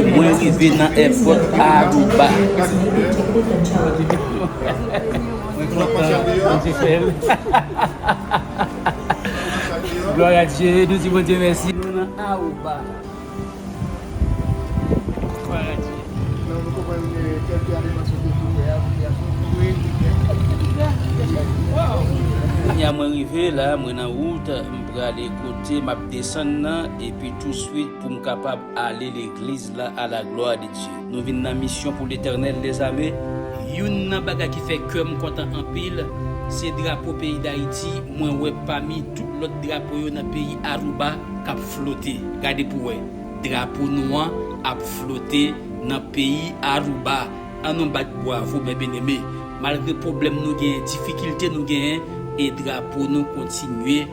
Mwen rive nan èpòt Aruba. Mwen kontan Bondye fèl. Glwa a Dye nou di Bondye mèsi. Nou nan Aruba. Glwa a Dye. Nan nou konprann kèl pi aleman sote sou tè a kounye a. Wi. Kounye a mwen rive la mwen nan wout m prale kote map desann nan epi tou swit poum kapab. Ale legliz la a la glwa de Dye. Nou vin nan misyon pou Letènèl dezame. Youn nan bagay ki fè kèm kontan anpil se drapo peyi dayiti mwen wè pami tout lòt drapo yo nan peyi Aruba kap flote gade pou wè drapo nou an ap flote nan peyi Aruba an nou bat bwavo mè beneme malgre pwoblèm nou genyen difikilte nou genyen e drapo nou kontinye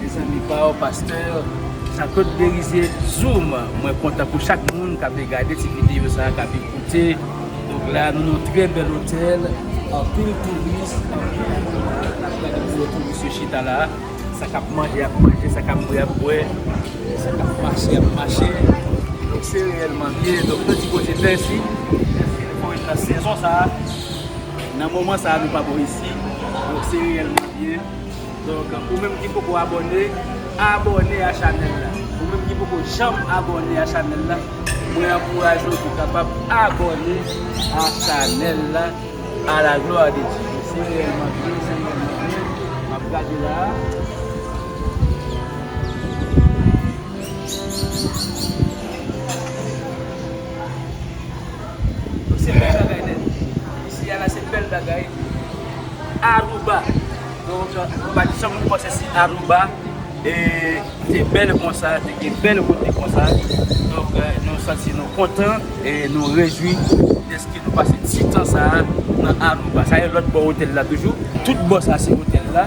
Mezanmi paww pasteur Jean-Claude Berizier zoom mwen kontan pou chak moun kap gade ti video sa kap ekoute nou la nou nan trè bèl hotel anpil touris anpil moun la nap gade pou nou touris yo chita la sa kap manje yap manje sa kap bwe yap bwe sa kap mache yap mache donk se reyèlman liye donk nou di Bondye mèsi mèsi li voye nou nan sezon sa nan moman sa nou pa bon isi donk se reyèlman liye. Donk ou menm ki poko abòne, abòne a chanèl la. Ou menm ki poko janm abòne a chanèl la, mwen ankouraje w pou kapab abòne a chanèl la a la glwa de Dye. Se reyèlman byen, se reyèlman byen, m ap gade la a. Donk se bèl bagay nèt. Isi a la se bèl bagay. Aruba. Donk nou pa janm nou panse si Aruba te bèl konsa, te gen bèl kote konsa. Donk nou santi nou kontan e nou rejwi dèske nou pase ti tan sa a nan Aruba. Sa e lòt bò otèl la toujou. Tout bò sa se otèl la.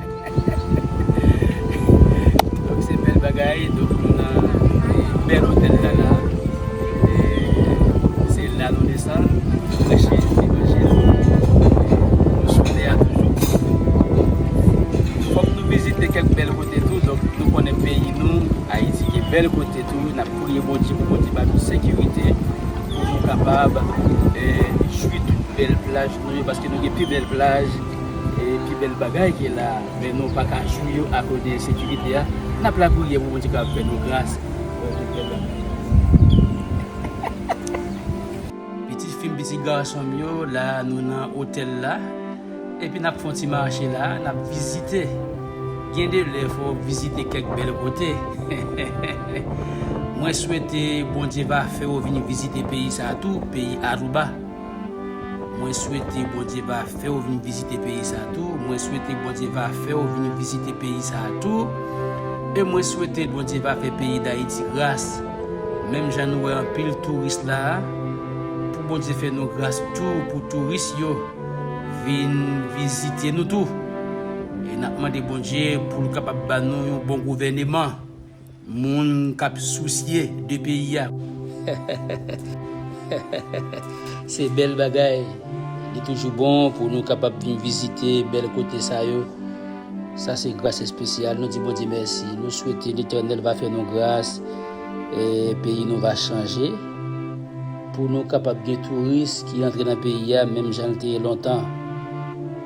Donk se bèl bagay, donk nou nan bèl otèl la la e se la nou desann pou preche levanjil nou souple a toujou fòk nou vizite kèk bèl kote tou donk nou konnen peyi nou Ayiti gen bèl kote tou n ap priye Bondye pou Bondye ba nou sekirite pou nou kapab jwi tout bèl plaj Nou yo paske nou gen pi bèl plaj e pi bèl bagay ki la a men nou pa ka jwi yo akoz de ensekirite a n ap lapriyè pou Bondye kapab fè nou gras pou nou tout bèl bagay yo. Pitit fi m pitit gason m yo la a nou nan otèl la epi n ap fè yon ti mache la a n ap vizite gen de lè fò w vizite kèk bèl kote hehehehe mwen swete Bondye va fè w vin vizite peyi sa a tou peyi Aruba. Mwen swete Bondye va fèw vin vizite peyi sa tou mwen swete Bondye va fèw vin vizite peyi sa tou e mwen swete Bondye va fè peyi dayiti gras menm jan nou wè anpil touris la a pou Bondye fè nou gras tou pou touris yo vin vizite nou tou e nap mande Bondye poul kapab ba nou yon bon gouvèneman. Moun kap sousye de peyi a. Hehehehehehehe se bèl bagay li toujou bon pou nou kapab vin vizite bèl kote sa yo sa se gras espesyal nou di Bondye mèsi nou swete letènèl va fè nou gras peyi nou va chanje pou nou kapab gen touris ki antre nan peyi a menm jan li te ye lontan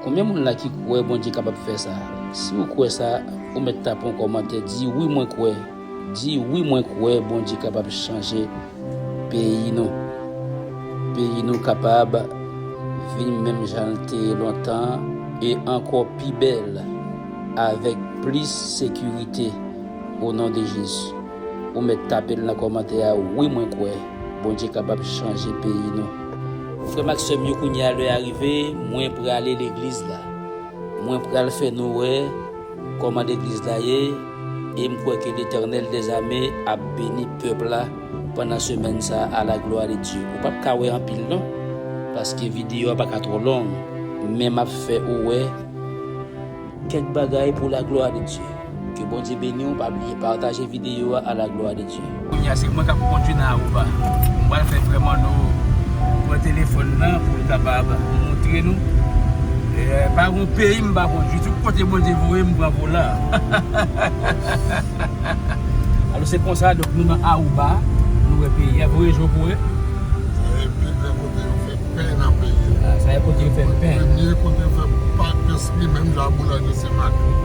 konbyen moun la ki kwè Bondye kapab fè sa si ou kwè sa. Ou mèt tape yon kòmantè di wi mwen kwè di wi mwen kwè Bondye kapab chanje peyi nou peyi nou kapab vin menm janl te ye lontan e ankò pi bèl avèk plis sekirite o non de Jezi ou mèt tapel nan kòmantè a wi mwen kwè Bondye kapab chanje peyi nou. Frèm ak sèm yo kounyea lè a rive mwen prale legliz la. Mwen pral fè nou wè kòman legliz la ye e m kwè ke Letènèl dè zame ap beni pèp la pandan semèn sa a la glwa de Dye. Ou pap ka wè anpil non paske video a pa ka twò long men map fè ou wè kèk bagay pou la glwa de Dye. Ke Bondye beniw pa bliye pataje video a la glwa de Dye. Kounye a se mwen kap kondwi nan Aruba. M pral fè frè Manno pran telefòn nan pou l kapab montre nou. Pa gon peyi m pa kondwi. Tout kote Bondye voye m m pran volan. Alò se konsa donk nou nan Aruba, nou wè peyi a. Voye je w pou w wè. Sa se pi gran kote yo fè. pen nan peyi a. Ah sa e kote yo fè pen. Premye kote yo fè patesri menm jan a boulanje se Maklik.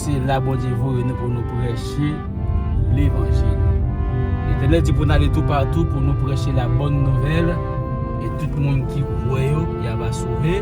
Se la Bondye voye nou pou nou preche levanjil. Letènèl di pou nou ale tou patou pou nou preche la bòn nouvèl e tout moun ki kwè yo ya va sove.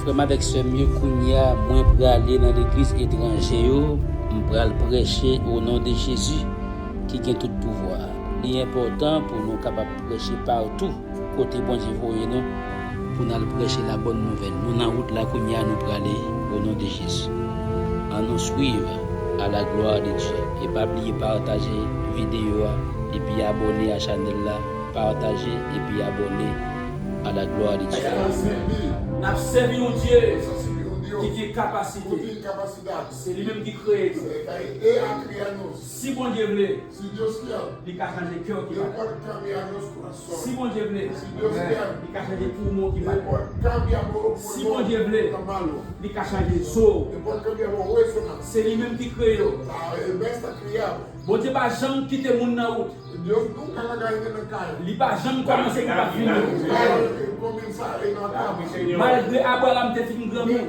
Frè m avèk sè m yo, kounye a, mwen prale nan legliz etranje yo, m pral prèche onon de Jezi ki gen tout pouvwa a. Li enpòtan pou nou kapab. Preche partou kote Bondye voye nou pou nal preche la bonne nouvelle nou nan wout la kounya nou prale o non de Jezi an nou swiv a la gloire de Dieu e pa bliye pataje video a epi abone a chanel la pataje epi abone a la gloire de Dieu. Nap sèvi yon Dye ki gen kapasite. Se li menm ki kreye nou. Si Bondye vle, Li ka chanje kè w ki pa dakò. Si Bondye vle, Li ka chanje poumon w ki pa dakò. Si Bondye vle, Li ka chanje zo w. Se Li menm ki kreye w. Bondye pa janm kite moun nan wout. Li pa janm kòmanse pou pa fini. Malgre Abraram te fin granmoun.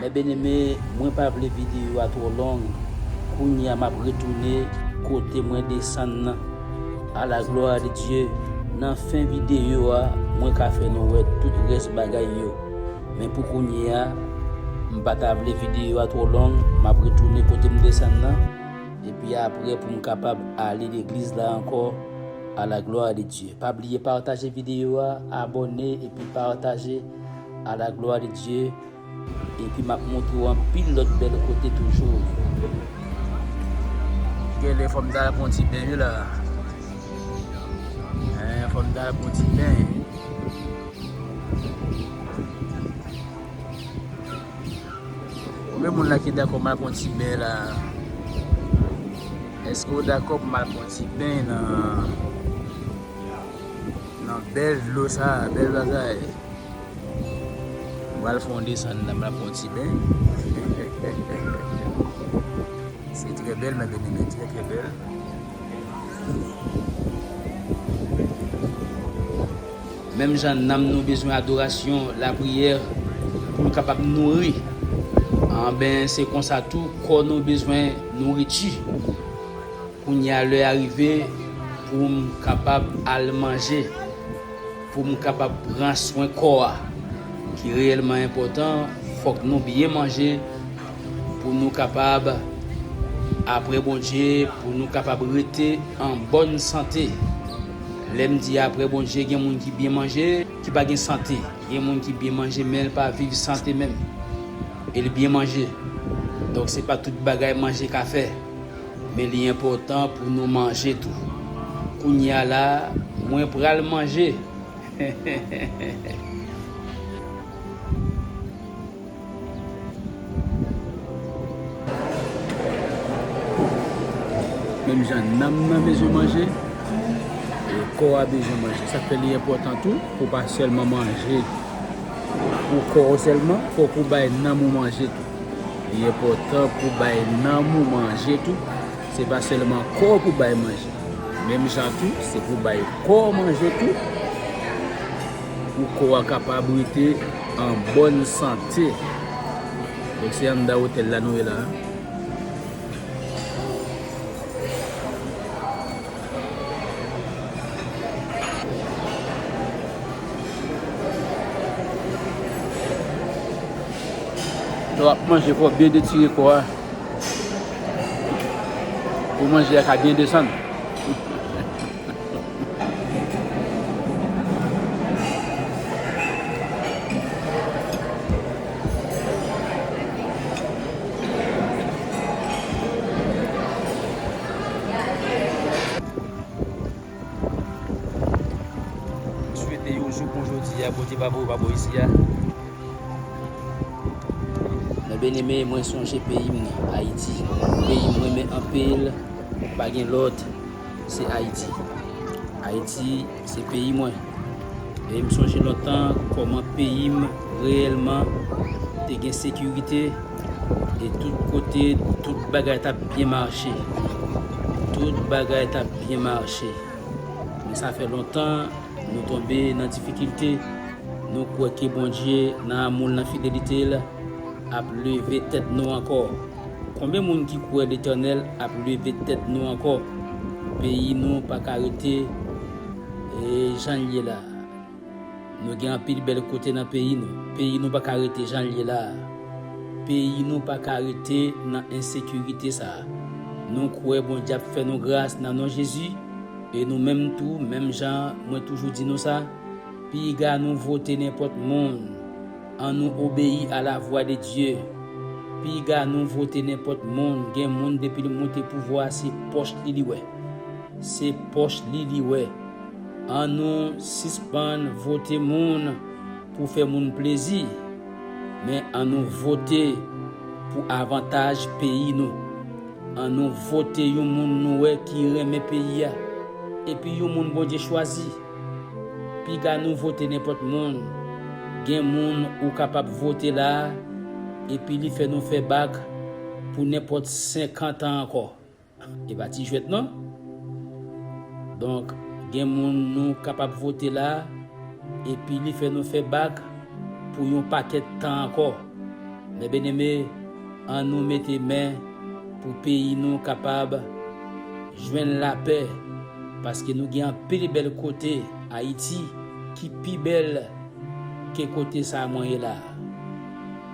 Mes bien aime mwen pa vle video a tro long kounya map retoune kote mwen desann nan a la gloire de Dieu nan fen video a mwen ka fè nou wè tout rès bagay yo men pou kounya m pa ta vle video a tro long map retoune kote m desann nan epi aprè pou m kapab ale legliz la ankò a la gloire de Dieu pa bliye pataje video a abonné epi pataje A la glwa de Dye, epi map montre w anpil lòt bèl kote toujou. Genlè fòm ta al pran yon ti ben wi la. Hein, fòm ta al pran yon ti ben. Konbyen moun la ki dakò m al pran yon ti ben la? Eske ou dakò pou m al pran yon ti ben nan nan bèl dlo sa, bèl bagay? M pral fè yon desann la, m pral pran yon ti ben. Se trè bèl mè byeneme, trè trè bèl. Menm jan nanm nou bezwen adorasyon, lapriyè pou l kapab nouri, anben se konsa tou kò nou bezwen nouriti. Kounye a lè a rive pou m kapab al manje. Pou m kapab pran swen kò a ki reyèlman enpòtan, fòk nou byen manje pou nou kapab apre Bondye, pou nou kapab rete an bòn sante. Lè m di apre Bondye, gen moun ki byen manje, ki pa gen sante. Gen moun ki byen manje men l pa viv sante menm e li byen manje. Donk se pa tout bagay manje ka fè. Men li enpòtan pou nou manje tou. Kounye a la, mwen pral manje! Menm jan nanm nan bezwen manje, kò a bezwen manje. Sa fè li enpòtan tou pou w pa sèlman manje pou kò ou sèlman, fòk ou bay nanm ou manje tou. Li enpòtan pou bay nanm ou manje tou, se pa sèlman kò pou bay manje. Menm jan tou, se pou bay kò manje tou, pou kò a kapab rete an bòn sante. Donk se anndan otèl la nou ye la a. Lè w ap manje fò w byen detire kò a pou manje a ka byen desann. Swete yon jou kon jodi a Bondye pa voye w pa bò isi a. Mwen byeneme mwen sonje peyi m Ayiti peyi m renmen anpil pa gen lòt se Ayiti Ayiti. Se peyi mwen. E m sonje lòt tan kòman peyi m reyèlman te gen sekirite e tout kote tout bagay t ap byen mache. Tout bagay t ap byen mache. Men sa fè lontan nou tonbe nan difikilte, nou kwè ke Bondye nan amou l, nan fidelite l, ap leve tèt nou ankò. Konbyen moun ki kwè Letènèl ap leve tèt nou ankò? Peyi nou pa ka rete jan l ye la a. Nou gen anpil bèl kote nan peyi nou. Peyi nou pa ka rete jan l ye la a. Peyi nou pa ka rete nan ensekirite sa a. Nou kwè Bondye ap fè nou gras nan non Jezi? E nou menm tou, menm jan mwen toujou di nou sa, piga nou vote nenpòt moun, An nou obeyi a la vwa de Dye. Piga nou vote nenpòt moun gen moun depil moute pouvwa a se pòch li li wè. Se pòch li li wè. An nou sispann vote moun pou fè moun plezi. Men an nou vote pou avantaj peyi nou. An nou vote yon moun nou wè ki renmen peyi a. Epi yon moun Bondye chwazi. Piga nou vote nenpòt moun, gen moun ou kapab vote la a epi li fè nou fè bak pou nenpòt 50 an ankò. E pa ti jwèt non. Donk, gen moun nou kapab vote la a epi li fè nou fè bak pou yon pakèt tan ankò. Mè byeneme! An nou mete men pou peyi nou kapab jwenn lapè paske nou gen anpil bèl kote ayiti ki pi bèl ke kote sa mwen ye la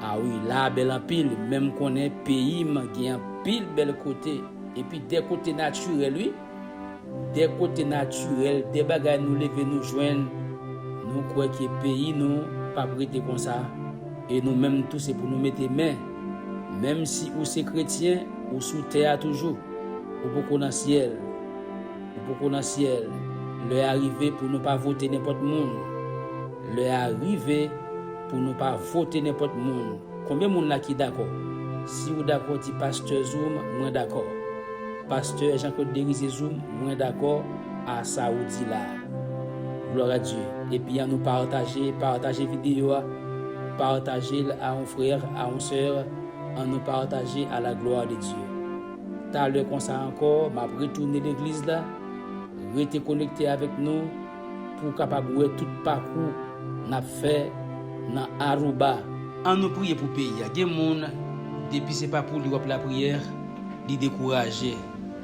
a wi la a bèl anpil menm konnen peyim gen anpil bèl kote epi de kote natirèl wi. dè kote natirèl, dè bagay nou leve nou jwenn, nou kwè ke peyi nou pap rete konsa, e nou menm tou se pou nou mete men. Menm si ou se kretyen, ou sou tè a toujou. Ou poko nan syèl. Ou poko nan syèl. Lè a rive pou nou pa vote nenpòt moun. Lè a rive pou nou pa vote nenpòt moun. Konbyen moun la ki dakò? Si ou dakò di pastè zoom mwen dakò. Pastè Jean Claude Derizier zoom mwen dakò a sa ou di la. Gloire à Dieu. Epi an nou pataje pataje video a pataje l a on frère a on soeur an nou pataje à la gloire de Dieu. Talè konsa ankò map retounen legliz la rete konekte avèk nou. Pou w kapab wè tout pakou n ap fè nan Aruba. An nou priye pou peyi a gen moun depi se pa pou li wap lapriyè li dekouraje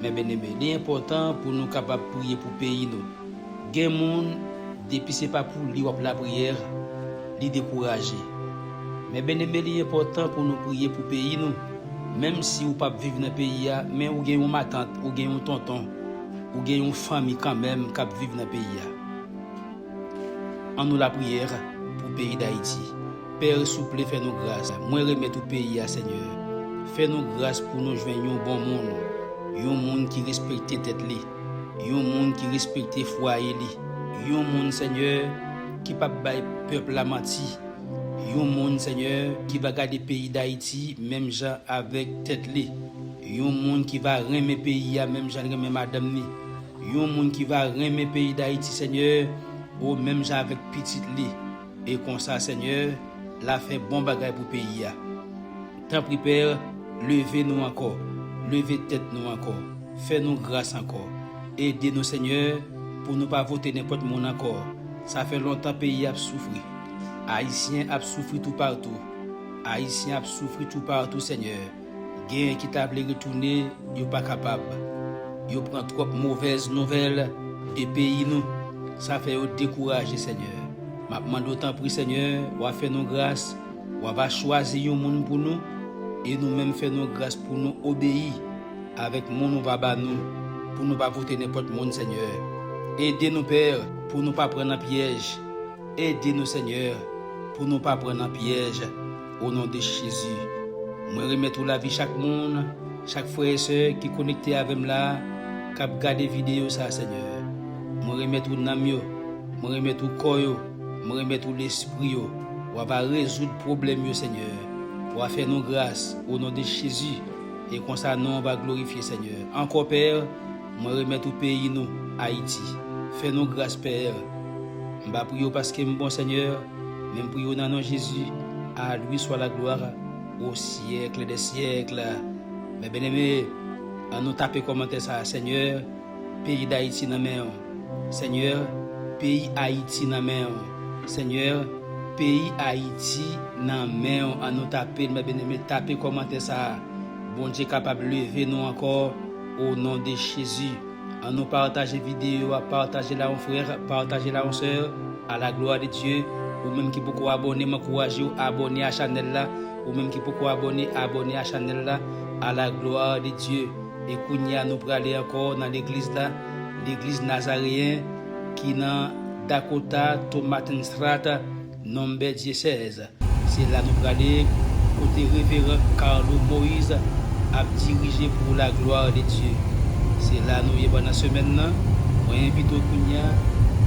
mè beneme li enpòtan pou nou kapab priye pou peyi nou gen moun depi se pa pou li wap lapriyè li dekouraje mè beneme li enpòtan pou nou priye pou peyi nou menm si ou pap viv nan peyi a men ou gen yon matant ou gen yon tonton Ou gen yon fanmi kanmenm kap viv nan peyi a an nou lapriyè pou peyi dayiti père souple fè nou gras mwen remèt ou peyi a senyè fè nou gras pou nou jwenn yon bon moun yon moun ki respekte tèt li yon moun ki respekte fwaye li yon moun senyè ki pap bay pèp la manti yon moun senyè ki va gade peyi dayiti menm jan avèk tèt li. Yon moun ki va renmen peyi a menm janl renmen madanm ni yon moun ki va renmen peyi dayiti senyè o menm jan avèk pitit li e konsa senyè la fè bon bagay pou peyi a tanpri pè leve nou ankò leve tèt nou ankò fè nou gras ankò ede nou senyè pou nou pa vote nenpòt moun ankò sa fè lontan peyi ap soufri ayisyen ap soufri tou partou ayisyen ap soufri tou partou senyè. Gen ki ta vle retounen yo pa kapab. Yo pran twòp movèz nouvèl de peyi nou. Sa fè yo dekouraje Senyè. Map mande w tanpri Senyè wa fè nou gras wa va chwazi yon moun pou nou e nou menm fè nou gras pou nou obeyi avèk moun ou va ba nou pou nou pa vote nenpòt moun Senyè. Ede nou Pè pou nou pa pran nan pyèj. Ede nou Senyè pou nou pa pran nan pyèj. O non de Jezi mwen remèt ou lavi chak moun, chak frè e sè ki konekte avèm la kap gade video sa Senyè mwen remèt ou nanm yo mwen remèt ou kò yo mwen remèt ou lespri yo wa va rezoud pwoblèm yo Senyè wa fè nou gras o non de Jezi e konsa nonw va glorifye Senyè ankò pè mwen remèt ou peyi nou Ayiti fè nou gras pè m ba priye w paskem bon Senyè. Menm pou yo nan non jezi a lui swa la gloire o siècle des siècles mes bien aimé an nou tape kòmantè sa senyè peyi dayiti nan menw senyè peyi ayiti nan menw senyè peyi ayiti nan menw an nou tapel mes bien aimé tape kòmantè sa bondye kapab leve nou ankò o non de jezi. An nou pataje video a pataje la yon frère pataje la yon soeur a la gloire de Dieu ou menm ki poko abone m ankourajew abone a chanel la ou menm ki poko abone abone a chanel la a la gloire de Dieu e kounya nou prale ankò nan legliz la legliz Nazaréen ki nan Dakota Tomatenstrata Number Dyesèz Se la nou prale kote Reveran Carlo Moise ap dirije pou la gloire de Dieu. Se la nou ye pandan semèn nan, mwen envite w kounya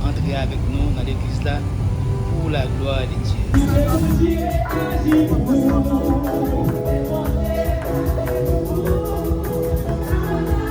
antre avèk nou nan legliz la pou la gloire de Dieu. Ke Bondye aji pou nou. Ke Bondye aji pou nou.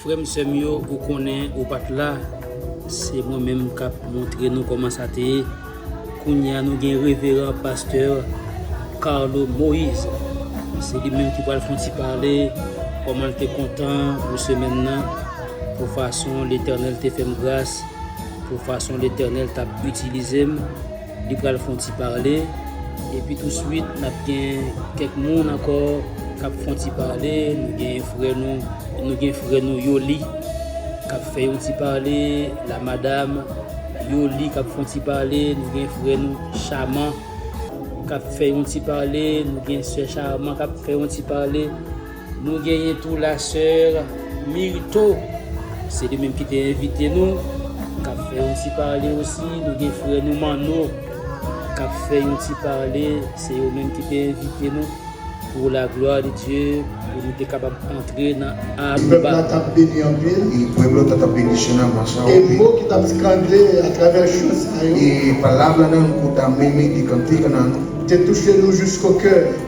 Frèm sèm yo ou konnen ou pat la se mwen menm kap montre nou kòman sa te ye kounya nou gen reveran pastè Carlo Moïse se li menm ki pral fon ti pale kòman l te kontan pou semèn nan pou fason letènèl te fèm gras pou fason letènèl tap itilize m. Li pral fon ti pale epi tou swit nap gen kèk moun ankò kap fon ti pale nou gen frè nou nou gen frè nou Yoly kap fè yon ti pale la madam Yoly kap fon ti pale nou gen frè nou Chaman kap fè yon ti pale nou gen sè Chaman kap fè yon ti pale. Nou genyen tou la soeur Myrtho se li menm ki te envite nou kap fè yon ti pale osi nou gen frè nou Manno kap fè yon ti pale se yo menm ki te envite nou pou la glwa de Dye pou nou te kapab antre nan Aruba.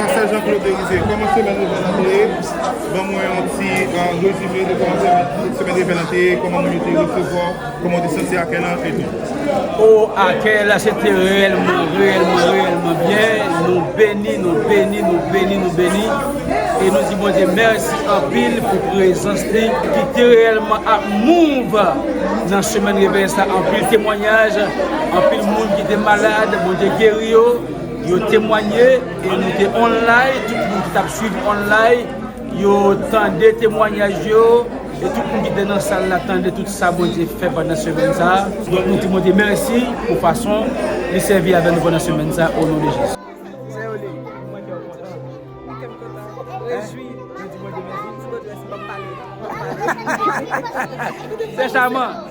Pasteur Jean Claude Derizier, kòman semèn nouvèl lan te ye? Ban mwen yon ti rezime de kòman semèn semèn nouvèl lan te ye, kòman moun yo te resevwa w, kòman w te santi akèy lan e tou. Oh akèy la se te reyèlman, reyèlman, reyèlman byen, nou beni, nou beni, nou beni, nou beni e nou di Bondye mèsi anpil pou prezans li ki te reyèlman ap mouv nan semèn revèy sa, anpil temwanyaj, anpil moun ki te malad Bondye geri yo. Yo temwanye e nou te online, tout moun ki t ap swiv online yo tande temwanyaj yo e tout moun ki te nan sal la tande tout sa Bondye fè pandan semèn sa a. Donk nou di Bondye mèsi pou fason li sèvi avè nou pandan semèn sa a o non de Jezi. Sè Chaman!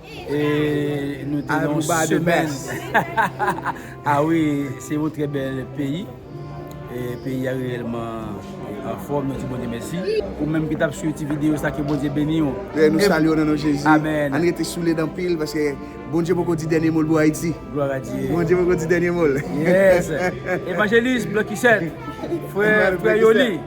E nou te nan semèn. A wi, se yon trè bèl peyi. E peyi a reyèlman anfòm, nou di Bondye mèsi. Ou menm ki tap swiv ti videyo sa, ke Bondye beni w. Frè, nou salye w nan non Jezi. Amen. Ann rete souled anpil, paske Bondye poko di dènye mo l pou Ayiti. Gloire à Dieu. Bondye poko di dènye mo l. Yes! Evangeliste Blocusette, frè Yoly.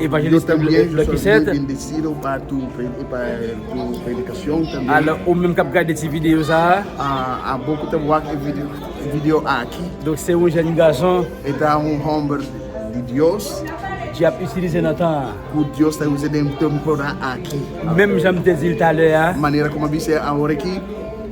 Yo te bliye yo se vye enbesil ou pa tou pou predikasyon ou te bliye. Alò ou menm kap gade ti videyo sa a. A bon kou te wak videyo a ki. Donk se yon jenn gason. E ta yon homber di Dios. Ki ap itilize nan tan an. Pou Dios te itilize nan tan an a ki. Menm jan m te di l talè a. Manera kòm bi se a ore ki.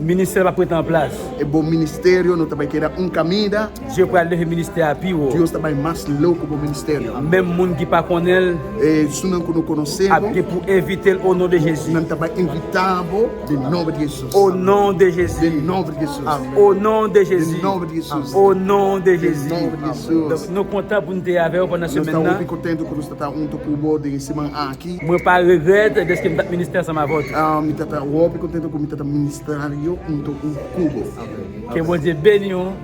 Ministè pa prete an plas. E bon ministè yo nou te bay keda un kamida. Dye pral leve ministè a pi wo. Dye sa bay mas love pou bon ministè nou. Menm moun ki pa konnenl. E sou nan kou nou kononse. Ap gen pou envitel o non de Jezi. Nan ta bay envitab o de non de Jesus. O non de Jezi. De non de Jesus. Amen. O non de Jezi. De non de Jesus. O non de Jezi. De non de Jesus. Donk nou kontan pou nou te avew pandan semèn nan. Nou ta wo pi kontan ke nou ta ta ou tou kou bo de seman a ki. Mwen pa regret deske m tap ministè ansanm avè w tou. A mi ta ta wo pi kontan ke m ta ta ministè a yo ou tou kou bo. Amen. Ke Bondye beni w.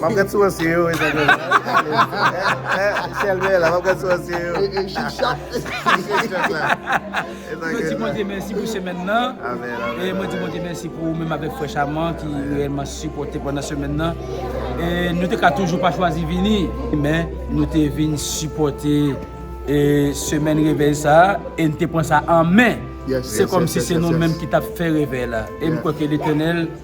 Map gad sou ansyen yo wi zanmi m. Chèlbè la map gad sou ansyen yo. E chik chak. E chik chak la. E zanmi m. Mwen di Bondye mèsi pou semèn nan. Amen amen. E mwen di Bondye mèsi pou ou menm avèk frè Chaman ki reyèlman sipòte pandan semèn nan. E nou te ka toujou pa chwazi vini. Men nou te vin sipòte e semèn revèy sa a e n te pran sa an men. Se kòmsi se nou menm ki tap fè revèy la. E m kwè ke Letènèl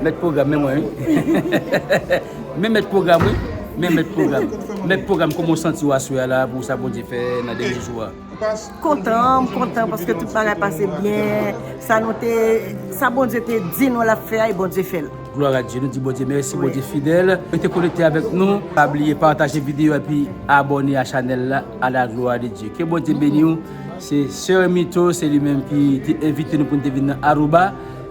Mèt pwogram men mwen wi Men mèt pwogram wi Men mèt pwogram Mèt pwogram kòman w santi w aswè a la pou sa Bondye fè nan dènye jou a? Kontan, m kontan paske tout bagay pase byen Sa nou te Sa Bondye te di nou l ap fè a e Bondye fè l. Glwa a Dye, nou di Bondye mèsi, Bondye fidèl. Rete konekte avèk nou, pa bliye pataje videyo a epi abòne a chanèl la A la gloire de Dieu. Ke Bondye beni w Se Soeur Mito, se li menm ki te envite nou pou nou te vin nan Aruba.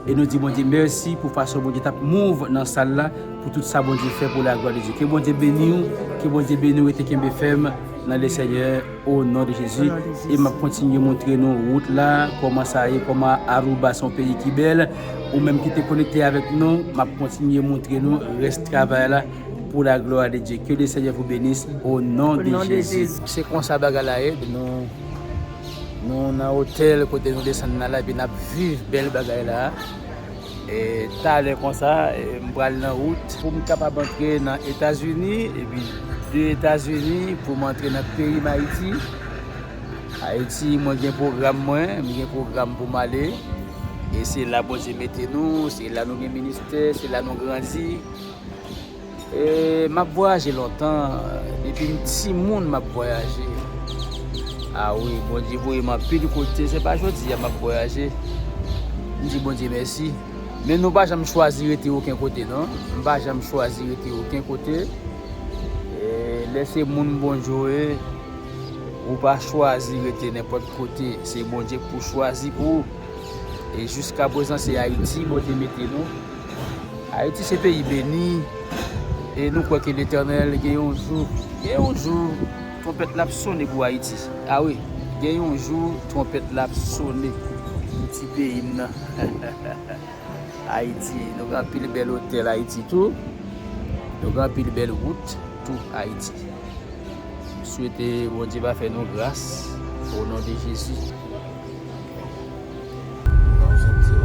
E nou di Bondye mèsi pou fason Bondye tap move nan sal la pou tout sa Bondye fè pou la glwa de Dye ke Bondye beniw ke Bondye beniw rete kenbe fèm nan le senyè o non de Jezi e map kontinye moutre nou wout la kòman sa ye kòman Aruba son peyi ki bèl ou menm ki te konekte avèk nou map kontinye moutre nou rès travay la pou la glwa de Dye ke le senyè vou benis o non de Jezi. Se konsa bagay la ye nou. Nou nan hotel kote nou desann nan la epi nap viv bèl bagay la e talè konsa m pral nan wout pou m kapab antre nan etazini epi de etazini pou m antre nan peyi m ayiti ayiti mwen gen pwogram mwen m gen pwogram pou m ale e se la bondye mete nou se la nou gen ministè se la nou grandi Map vwayaje lontan depim timoun map vwayaje a wi bondye voyem anpil kote se pa jodia map vwayaje m di bondye mèsi men nou pa janm chwazi rete oken kote non m pa janm chwazi rete oken kote lè se moun bondye ou ye ou pa chwazi rete nenpòt kote se bondye pou chwazi pou ou e jiska prezan se ayiti bondye mete nou Ayiti se peyi beni e nou kwè ke Letènèl gen yon jou, gen yon jou twonpèt la ap sone pou Ayiti. A wi, gen yon jou twonpèt la ap sone pou ti peyi m nan. Ayiti, nou gen anpil bèl otèl Ayiti tou, nou gen anpil bèl wout tou Ayiti. M swete Bondye va fè nou gras o non de Jezi.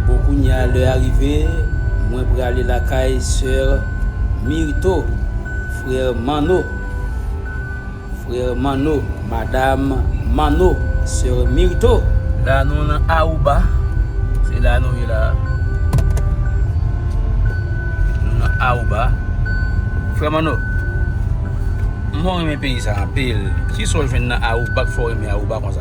Bon kounya lè a rive mwen prale lakay soeur Myrtho frère Manno frère Manno madame Manno soeur Myrtho. La nou nan Aruba se la nou ye la nou nan Aruba frère Manno mwen renmen peyi sa anpil kisaw jwenn nan Aruba k fè w renmen Aruba konsa.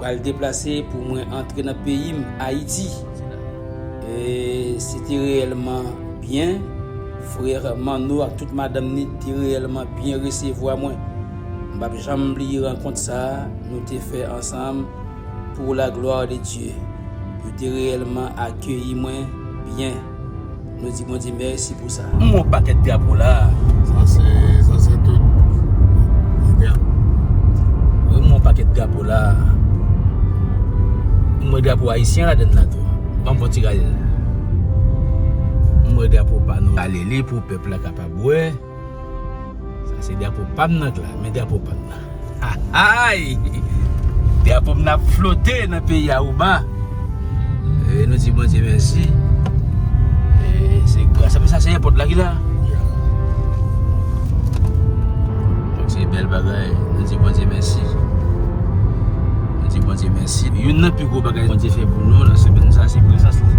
Mwen pral deplase pou mwen antre nan peyi m Ayiti. Se te reyèlman byen. Frere Manno ak tout madanm ni te reyèlman byen resevwa mwen. M pa p janm bliye rankont sa a nou te fè ansanm pou la glwa de Dye. Yo te reyèlman akeyi mwen byen. Nou di Bondye mèsi pou sa. M wè yon pakèt drapo la a. Sa se, sa se tout bagay. M wè yon pakèt drapo la a. M wè drapo ayisyen la dèn la tou. Banm fon ti gade. M wè drapo pa nou. Alele pou pèp la kapab wè. Sa se drapo pam nan k la, men drapo pam nan. Ahay! Drapo m nan ap flote nan peyi Aruba. E nou di Bondye mèsi. E se gras a, men sa se èpòt la ki la. Donk se bèl bagay, nou di Bondye mèsi. Nou di Bondye mèsi. Youn nan pi gwo bagay Bondye fè pou nou nan semèn sa se prezans li.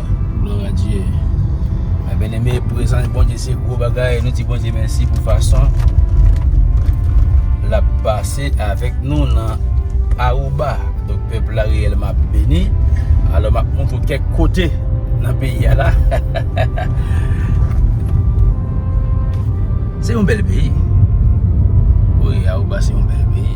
Gloire à Dieu Mes bien aimé prezans Bondye se gwo bagay nou di Bondye mèsi pou fason l ap pase avèk nou nan Aruba donk pèp la reyèlman ap beni alò m ap montre w kèk kote nan peyi a la se yon bèl peyi wi Aruba se yon bèl peyi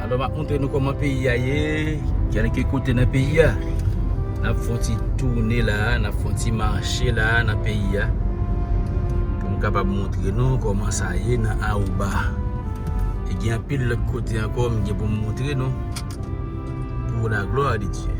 Alò map montre nou koman peyi a ye kelke kote nan peyi a nap fon ti toune la nap fon ti mache la nan peyi a poum kapab montre nou koman sa ye nan arouba e gen anpil lot kote anko m gen poum montre nou pou la glwa de Dye.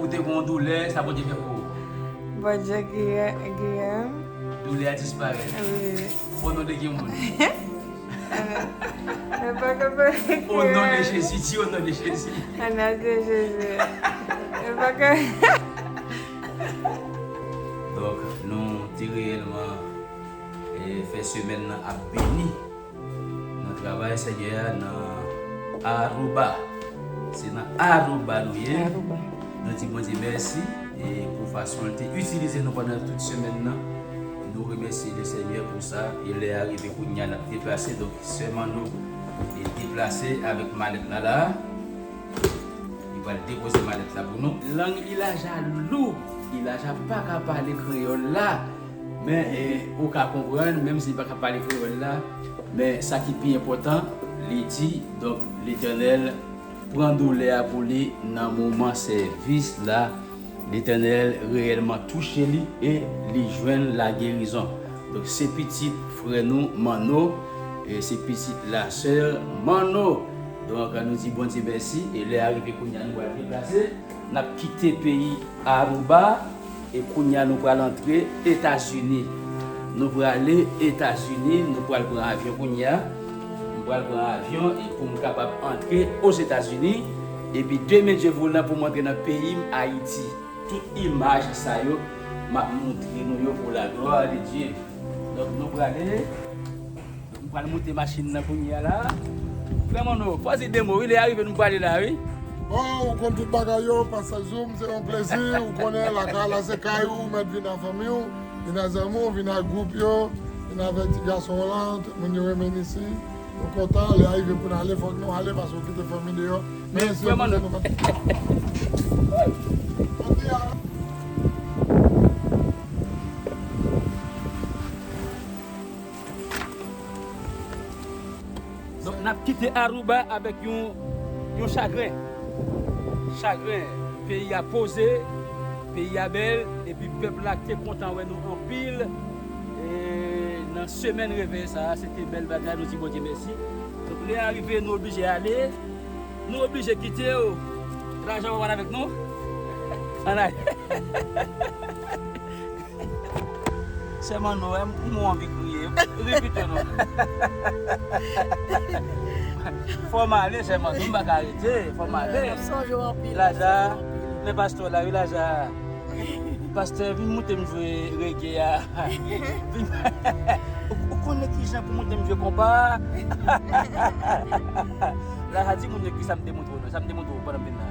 Ou te gon doulè sa bondye fè pou ou. Bondye giyem. Doulè a disparèt. O non de ki moun. Mwen pa ka pa ri. O non de jezi di o non de jezi. O non de jezi. Mwen pa ka. Donk nou te reyèlman fè semèn nan ap beni. Nan travay Senyè a nan Aruba. Se nan Aruba nou ye. Nou di Bondye mèsi pou fason l te itilize nou pandan tout semèn nan. Nou remèsye Lesenyè pou sa. E lè a rive kounye a n ap deplase. Donk, sè Manno deplase avèk malèt la la a. Li pral depoze malèt la pou nou. Lang Ilaja lou. Ilaja pa ka pale kreyòl la. Men ou ka konprann, menm si li pa ka pale kreyòl la, men sa ki pi enpòtan, li di, Donk, Letènèl pran doulè a pou li nan moman sèvis la, Letènèl reyèlman touche li e li jwenn lagerizon. Donk, se pitit frè nou Manno, e se pitit lasè Manno. Donk, nou di Bondye mèsi, e lè a rive kounye a nou pral deplase. Nap kite peyi Aruba e kounya nou pral antre Etazini. Nou prale Etazini, nou pral pran avyon kounya. M pral pran avyon e pou m kapab antre Ozetazini. Epi demen Dye voulan pou m antre nan peyi m Ayiti. Tout imaj sa yo map montre nou yo pou la glwa de Dye. Donk nou prale. Nou pral moute machin nan kounye a la. Frè Manno, fò di 2 mo wi, lè a rive nou prale la wi. Oh ou konn tout bagay yo pastè Zoom se yon plezi ou konnen lakay la se kay ou ou mèt vin ak fanmi w vin ak zanmi w vin ak gwoup yo vin avèk ti gason w lan tout moun yo renmen n isi nou kontan lè a rive pou n ale fòk nou ale paske ou kite fanmi deyò men frè Manno nou pap Donk nap kite Aruba avèk yon chagren. Chagren peyi a poze, peyi a bèl epi pèp la te kontan wè nou anpil nan semèn reveye sa a. Se te bèl bagay, nou di Bondye mèsi. Donk lè a rive nou oblije ale, nou oblije kite w, lajan w pa pral avèk nou. Ann ale. Sè Manno wèm m ou anvi kriye ri pito non. Fòm ale sè Manno m paka rete fòm ale. Map sonje w anpil. Laza men pastè w la wi Laza. Pastè vin moute m jwe rege a. Ou konnen kijan pou moute m jwe konpa a. Laza di moun yo kisa m te moute w nan sa m te moute w pandan m vin nan.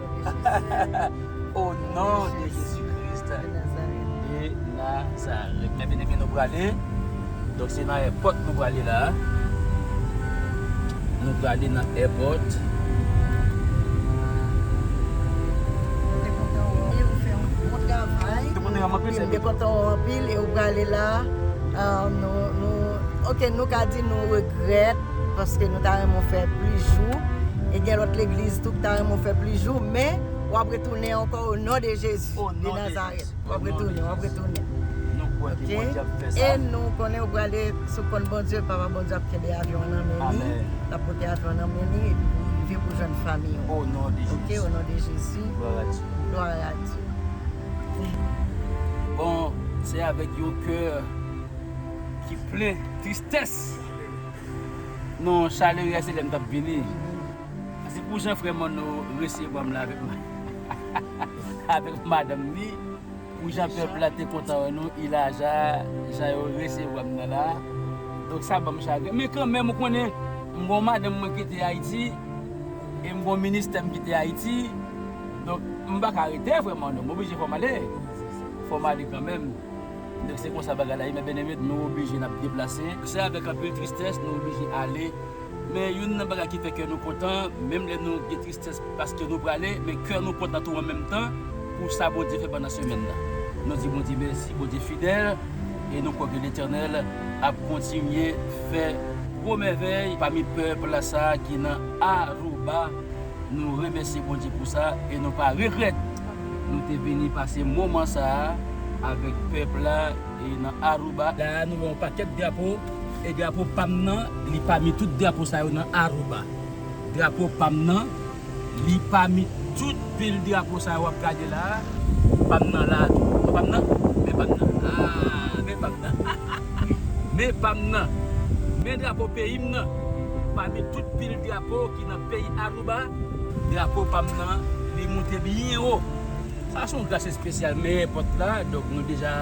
O non de Jezi Kris de Nazarèt Mè byeneme nou prale Donk se nan èpòt nou prale la Nou prale nan èpòt Mwen te kontan ou anpil ou fè yon bon travay Mwen te kontan ou anpil e ou prale la Nou Ok nou ka di nou regrèt Paske nou ta renmen w fè plis jou e gen lòt legliz tou ki ta renmen w fè plis jou men wap retounen ankò o non de Jezi de Nazarèt wap retounen wap retounen ok e nou konnen ou prale sou kont Bondye papa Bondye ap kenbe avyon an nan men li lap pote avyon an nan men li epi pou ou rive pou jwenn fanmi ou ok o non de Jezi glwa a Dye bon se avèk yon kè ki plen tristès. Non chaleur ya se lèm tap vini se pou jan frè Manno resevwam la avèk madanm li pou jan pèp la te kontan wè nou ilaja jan yo resevwam nan la donk sa banm chagren men kanmenm ou konnen m gon madanm mwen kite ayiti e m gon ministèm kite ayiti donk m paka rete frè Manno m oblije fòm ale fòm ale kanmenm. Donk se konsa bagay la ye mè Beneme nou oblije nap deplase. Se avèk anpil tristès nou oblije ale men youn nan bagay ki fè kè nou kontan menm lè nou gen tristès paske nou prale men kè nou kontan tou an menm tan pou sa Bondye fè pandan semèn nan. Nou di Bondye mèsi, Bondye fidèl e nou kwè ke Letènèl ap kontinye fè. Gwo mèvèy pami pèp la sa ki nan Aruba. Nou remèsye Bondye pou sa e nou pa regrèt. Nou te vini pase moman sa a avèk pèp la e nan Aruba. La a nou wè yon pakèt drapo e drapo pa m nan li pami tout drapo sa yo nan Aruba. Drapo pa m nan li pami tout pil drapo sa yo w ap gade la a. Pa m nan la a tou. Wè pa m nan? Men pa m nan. A! Men pa m nan. Ha ha ha! Men pa m nan. Men drapo peyi m nan pami tout pil drapo. Nan peyi Aruba, drapo pa m nan li moute byen wo. Sa se yon gras espesyal men èpòt la, donk nou deja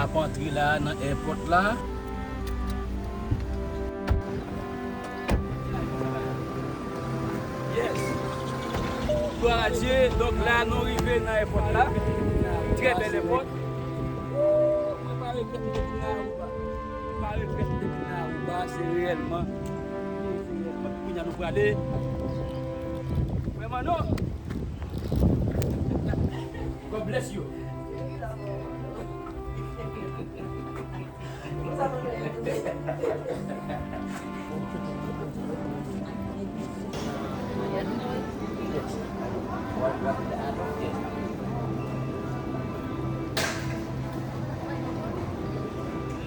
ap antre la a nan èpòt la. Glwa a Dye, donk la a nou rive nan èpòt la. Trè bèl èpòt. Wouuw! Mwen pa regrèt m te vin nan Aruba. Mwen pa regrèt m te vin nan Aruba, se reyèlman. Woy seyè m kote kounya nou prale frè manno God bless you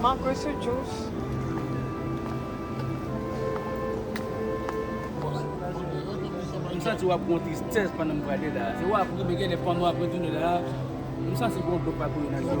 Mango sou jous. M santi wap gon tristès pandan m prale la. Se wap ri men gen lè pandan wap retounen la, m santi gon dlo k pa koule nan je w.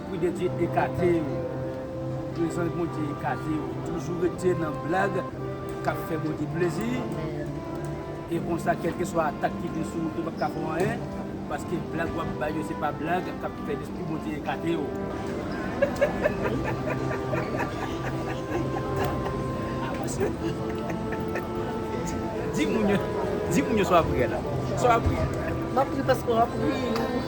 Esprit de Dieu ekate yo. Prezans Bondye ekate yo. Toujou rete nan blag kap fè Bondye plezi. E konsa kelkeswa atak ki vin sou ou yo pap ka fè w anyen. Paske blag wap bay yo se pa blag kap fè Lespri Bondye ekate yo. Di moun yo sa wap ri a la. Sa wap ri a. Map ri paske wap ri.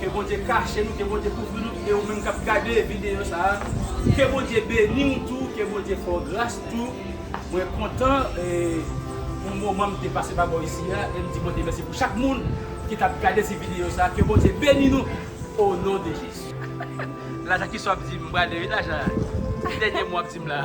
Ke Bondye kache nou ke Bondye kouvri nou e ou menm kap gade video sa ke Bondye beniw tou ke Bondye fè w gras tou mwen kontan pou moman m te pase pa bò isi a e m di Bondye mèsi pou chak moun ki tap gade ti video sa ke Bondye beni nou o non de Jezi. Lajan kiswa wap dim m prale wi lajan ti dènye mo wap dim la.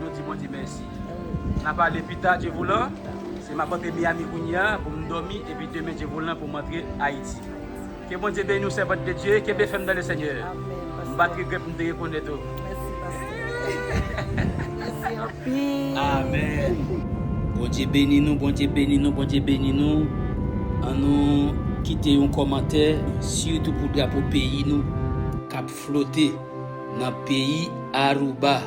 Nou di Bondye mèsi. Na pale pita Dye voulan. Se map antre Miami kounyea pou m domi epi demen Dye voulan pou m antre Ayiti. Ke Bondye beni w sèvant de Dye, kenbe fèm nan le Senyè. M pat regrèt m te rekonèt ou. Amen. Bondye beni nou Bondye beni nou Bondye beni nou an nou kite yon kòmantè sitou pou drapo peyi nou kap flote nan peyi Aruba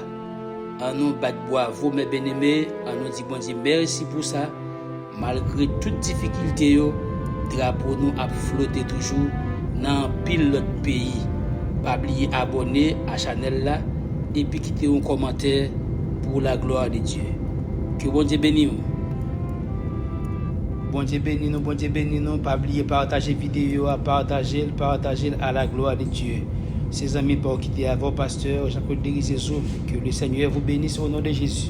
an nou bat bwavo mes bien aimé an nou di Bondye mèsi pou sa malgre tout difikilte yo drapo nou ap flote toujou nan anpil lòt peyi pa bliye abòne a chanèl la epi kite yon kòmantè pou la glwa de Dye ke Bondye beniw. Bondye beni nou Bondye beni nou pa bliye pataje video a patajel patajel a la glwa de Dye se zanmi paw kite avèw pastè Jean Claude Derizé Zoom ke le senyè vou benisse o non de Jezi.